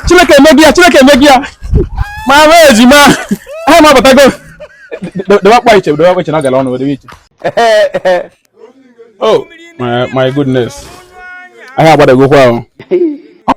Chineke emegbu ya Chineke emegbu ya ma ahụ ejima ahịa m abatago dewe akpa iche dewe akpa iche na ọ gara ọnụ dewe iche oh my my goodness ahịa agbadagokwa ahụ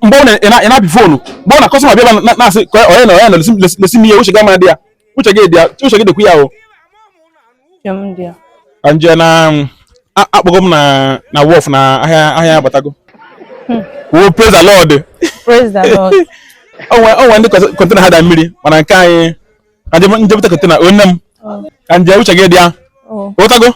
mgbe ị na-apị foonu mgbe ọ na customer bịa na-asị onye na onye na-elesi m ihe uche gị ama dị ya uche gị dị ya uche gị dịkwa ya o nje na akpọgo m na wharf na ahịa ahịa agbatago hmm. kwuo praise the lord o nwe ndị container ha da mmiri mana nke anyị ka nje bute container onye m oh. ka nje uche gị dị ya ụtago oh.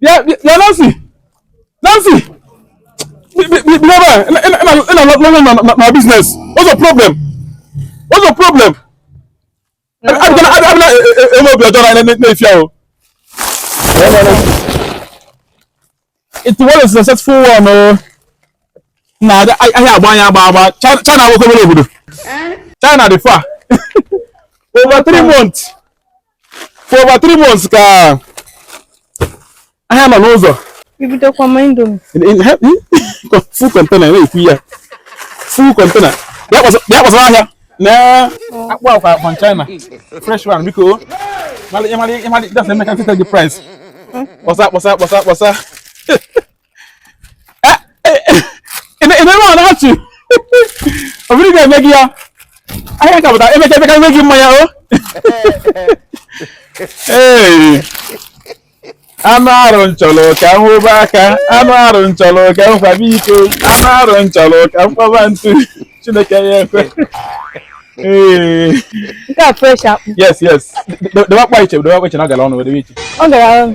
bịa bịa Nancy Nancy bịaba na business what's your problem what's your problem abịa eme obi ọjọọ na na-efi ahụ it was a successful one o na ahịa agba anya agba agba China nwoke obere obodo China dị far over three months for over three months ka ahịa nọ n'ụzọ ibidokwa ma indomi full container na-ekwu ya full container bịa kpọsara ahịa na akpụ akwa from China fresh one biko ịmalị ịmalị ịmalị ịdasa emeka nkịta gị price kpọsa kpọsa kpọsa kpọsa ememe ọ na-achị obiri ga-eme gị ya ahịa ka pụtara emeka emeka eme gị mmanya o ee anụ arụ m chọrọ ka m hụba aka anụ arụ m chọrọ ka m kwaba iko anụ arụ m chọrọ ka m kwaba ntu chineke ya ekwe ee nke a fresh akpụ yes yes debe akpa iche debe akpa iche na ọ gara ọnụ debe iche ọ gara ọnụ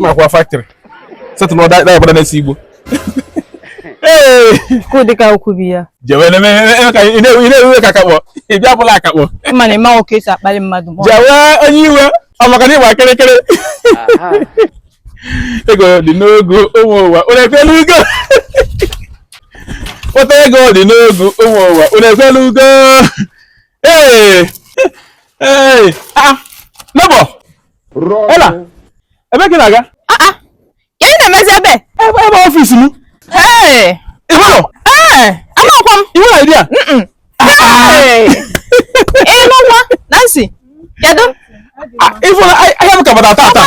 makwa factory setụlụ ọda ịgbada na-esi igbo kụdịka okwu bi ya jewe na ị na-ewe ka akakpọ ị bịa bụla akakpọ ma na ịma nwoke esi akpali mmadụ ma ọ- jewe onye iwe ọ maka na ịgba kịrịkịrị ego dị n'ogwu ụmụ ụwa unu ekwela ugo kpata ego dị n'ogwu ụmụ ụwa unu ekwela ugo ee ee ah nọbọ Ela, ebe ka ị na-aga? Ah, ah. Kee ị na-emezi ebe? Ebe ebe office m. Ee. Ị hụrụ? Ee. Amakwa m. I nwerọ idea? Mm-mm. Ee. Ị nụkwa? Nancy, kedu? Ah, Ị hụrụ ahịa m ka bata tata?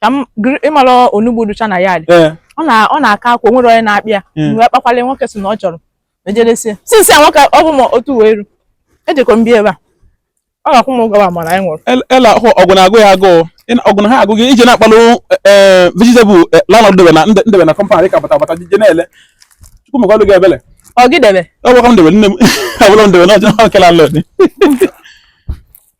ka m gr- ị mara onugbu dụcha na ya dị ee ọ na ọ na-aka akwa o nwere onye na-akpị ya Mm. wee kpakwala nwoke si na ọ chọrọ ejeresie sinsi a nwoke ọ bụ ma otu wee ru ejekọ m bịa ebe a ọ ga-akwụ m ụgwọ ma mana anyị nwụrụ El- ela hụ ọgụ na-agụ ya agụụ Ị na- ọgụ na ha agụ gị ije na-akpalụ ee vegetable lanọd debe na ndị- ndebe na company ka bata bata jije na-ele chukwu mekwalụ gị ebele ọ gị debe ọ bụrụ ka m debe nne m ọ bụrụ m debe na ọjọọ kela lọd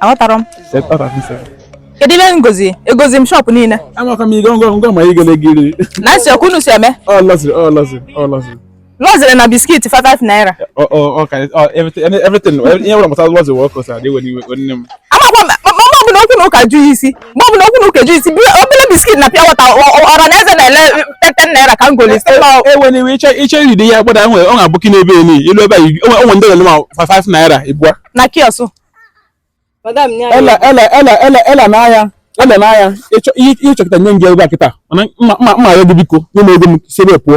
aghọtara m kedu ihe ngozi egozi m shop niile amaka m igo ngọ ngọ ma ị gele giri na nsị ọkụ unu si eme ọ lọsịrị ọ lọsịrị ọ lọsịrị lọzịrị na biskit 5 naira ọ ọ ọ ka ọ everything everything ihe ọbụla gbasara lọsịrị wọkọs adịghị n'iwe nne m amakwa m ma ọ bụ na okwu na ụka jụ ya isi mgbe ọ bụla okwu na ụka eji isi bie obere biskit na pure water ọra na eze na-ele tete naira ka m goli e nwere ihe iche iche iri dị ya gbada e nwe aboki n'ebe ni i lu ebe a o nwe ndị na-elema 5 naira ịbụa na kiosk ele n'ahịa ele n'ahịa ihe ị chọ kịta nye m gị ebe a kịta mana m na-ayọ gị biko nye m ego m si ebe pụọ